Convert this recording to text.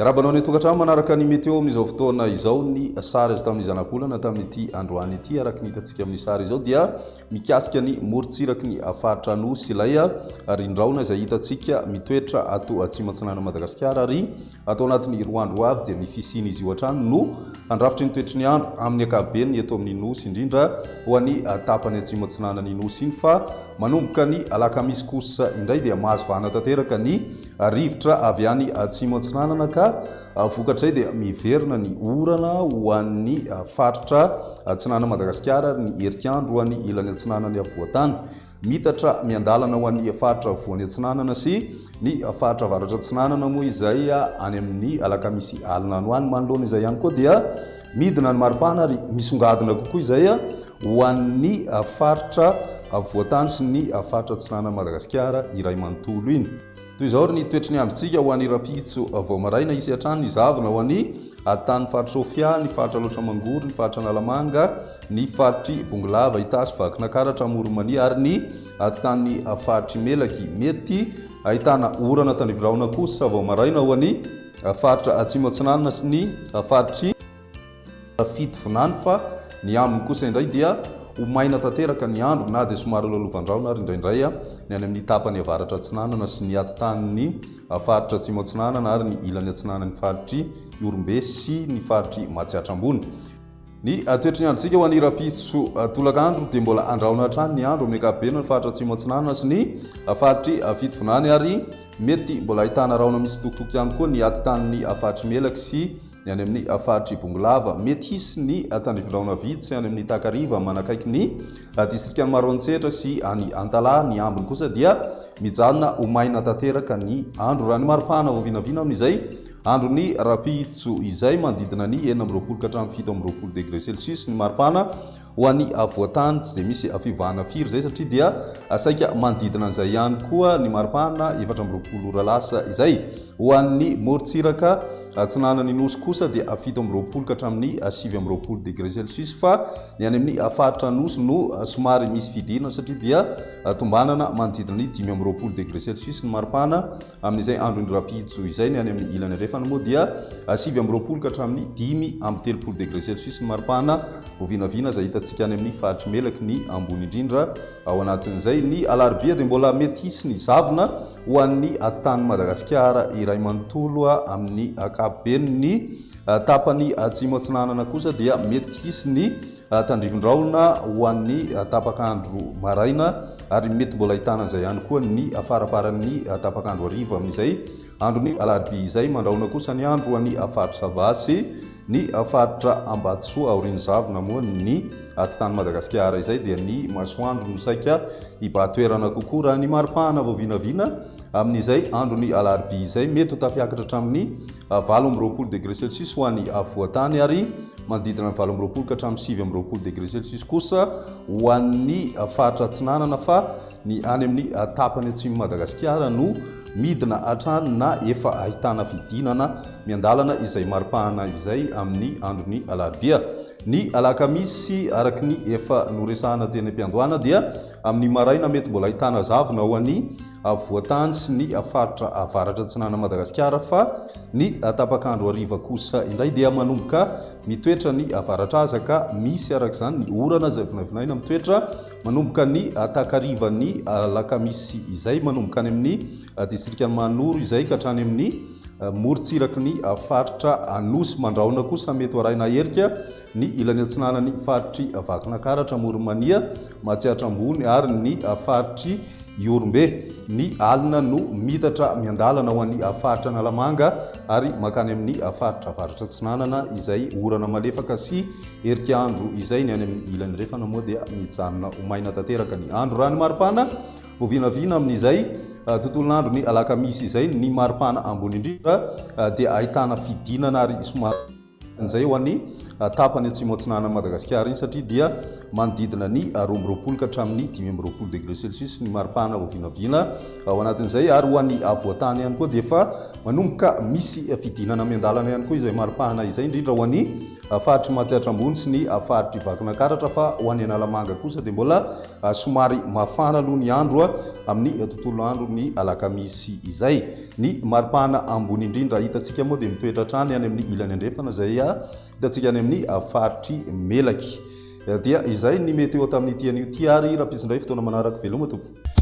Iarabanao ny tokantrano manaraka ny meteo amin'izao fotoana izao ny sary azo tamin'ny zanak'olana tamin'ity androany ity araka ny hitantsika amin'ny sary izao dia mikasika ny morontsiraky ny faritra Anosy ilay rindraona izay hitantsika mitoetra ato atsimo-atsinanan'i Madagasikara ary atao anatin'ny roa andro ho avy dia ny fisian'izy io hatrany no handrafitry ny toetry ny andro amin'ny ankapobeny eto amin'ny Nosy indrindra ho an'ny tapany atsimo-atsinanan'ny Nosy iny fa manomboka ny alakamisy kosa indray dia mahazo vahana tanteraka ny rivotra avy any atsimo-atsinanana ka Vokatrizay dia miverina ny orana ho an'ny faritra atsinanan'i Madagasikara ary ny herik'andro ho an'ny ilany atsinanan'ny afovoan-tany. Miitatra miandalana ho an'ny faritra afovoany atsinanana sy ny faritra avaratra atsinanana moa izay any amin'ny alakamisy alina any ho any. Manoloana izay ihany koa dia midina ny maripana ary misongadina kokoa izay ho an'ny faritra afovoan-tany sy ny faritra atsinanan'i Madagasikara iray manontolo iny. Toy izao ary ny toetry ny androntsika ho any rahampitso vao maraina hisy hatrany ny zavona ho any atanin'ny faritra Sofia, ny faritra Alaotra Mangory, ny faritra Analamanga, ny faritry Bongolava, Itasy, Vakinakaratra, Amoronmania ary ny atitanin'ny faritry Melaky. Mety ahitana orana tandrifirahona kosa vao maraina ho any faritra Atsimo Atsinanana sy ny faritry. Safidy vinany fa ny aminy kosa indray dia ho maina tanteraka ny andro na dia somary lalovan-drahona ary indraindray ny any amin'ny tapany avaratra atsinanana sy ny atitan'ny faritra atsimo atsinanana ary ny ilany atsinanan'ny faritr'i Ihorombe sy ny faritr'i Matsiatra Ambony. Ny toetry ny androntsika ho an'ny rahampitso tolakandro dia mbola andrahona hatrany ny andro amin'ny ankapobeny ny faritra atsimo atsinanana sy ny faritr'i Fidy vinany ary mety mbola ahitana rahona misitokotoko ihany koa ny atitan'ny faritr'i Melaky sy Ny any amin'ny faritr'i Bongolava, mety hisy ny tandrivilaona vitsy any amin'ny takariva manakaiky ny distrikan'i Maroantsetra sy any Antalaha. Ny ambiny kosa dia mijanona ho maina tanteraka ny andro, raha ny maripana vao vinavina amin'izay andron'ny rahampitso izay, manodidina ny enina amby roapolo ka hatramin'ny fito amby roapolo degre celsius ny maripana. Ho an'ny afovoan-tany tsy dia misy fivahana firy izay satria dia saika manodidina an'izay ihany koa ny maripana efatra amby roapolo ora lasa izay. Ho an'ny morontsiraka atsinanan'ny Nosy kosa dia fito amby roapolo ka hatramin'ny sivy amby roapolo degré celsius fa ny any amin'ny faritra Anosy no somary misy fidirana satria dia tombanana manodidina ny dimy amby roapolo degré celsius ny maripana Amin'izay andron'ny rapido izay ny any amin'ny ilany andrefana moa dia sivy amby roapolo ka hatramin'ny dimy amby telopolo degré celsius ny maripana ho vinavina izay hitantsika any amin'ny faritr'i Melaky ny ambony indrindra. Ao anatin'izay ny alarobia dia mbola mety hisy ny zavona ho an'ny atitan'i Madagasikara iray manontolo. Amin'ny ankapobeny ny tapany atsimo atsinanana kosa dia mety hisy ny tandrivindraona ho an'ny tapaka andro maraina ary mety mbola hitana izay ihany koa ny faraparan'ny tapaka andro hariva amin'izay andro ny alarobia izay mandraona kosa ny andro any faritra sava sy ny faritra ambatisoa aorian'ny zavona moa ny aty tany madagasikara izay dia ny masoandro no saika hibatoerana kokoa raha ny maripahana vao vinavina Amin'izay andron'ny alarobia izay, mety ho tafiakatra hatramin'ny valo amby roapolo degré Celsius ho an'ny afovoan-tany ary manodidina ny valo amby roapolo ka hatramin'ny sivy amby roapolo degré Celsius kosa ho an'ny faritra atsinanana fa ny any amin'ny tapany atsimon'i Madagasikara no midina hatrany na efa ahitana fidinana miandalana izay maripana izay amin'ny andron'ny alarobia. Ny alakamisy, araka ny efa noresahana teny am-piandohana dia Amin'ny maraina, mety mbola ahitana zavona ao an'i Afovoantany sy ny faritra avaratra atsinanan'i Madagasikara fa ny tapak'andro hariva kosa indray dia manomboka mitoetra ny avaratraza ka misy araka izany ny orana izay vinavinaina mitoetra manomboka ny takarivan'ny alakamisy izay manomboka any amin'ny distrikan'i Mahanoro izay ka hatrany amin'ny morontsiraky ny faritra Anosy mandrahona kosa mety ho arahina herika ny ilany atsinanan'ny faritr'i Vakinakaratra, Amoronmania, Matsiatra Ambony ary ny faritr'i Ihorombe. Ny alina no miitatra miandalana ho an'ny faritra Analamanga ary mankany amin'ny faritra Avaratra Atsinanana izay orana malefaka sy herika andro izay. Ny any amin'ny ilany refana moa dia mijanona ho maina tanteraka ny andro. Raha ny maripana vao vinavina amin'izay ah, tontolon'andro ny alakamisy izay, ny maripana ambony indrindra ah, dia ahitana fidinana ary somary Injay ho an'ny tapany atsimo atsinanan'i Madagasikara iny satria dia manodidina ny roa amby roapolo ka hatramin'ny dimy amby roapolo degré celsius ny maripana vao vinavina ao anatin'izay ary ho an'ny afovoan-tany ihany koa dia efa manomboka misy fidinana miandalana ihany koa izay maripana izay indrindra ho an'ny faritry Matsiatra Ambony sy ny faritry Vakinakaratra fa ho an'i Analamanga kosa dia mbola somary mafana aloha ny andro amin'ny tontolo andro ny alakamisy izay. Ny maripana ambony indrindra hitantsika moa dia mitoetra hatrany any amin'ny ilany andrefana izay hitantsika any amin'ny faritr'i Melaky. Dia izay ny meteo tamin'ity anio ity ary rampitsindray fotoana manaraka veloma tompoko.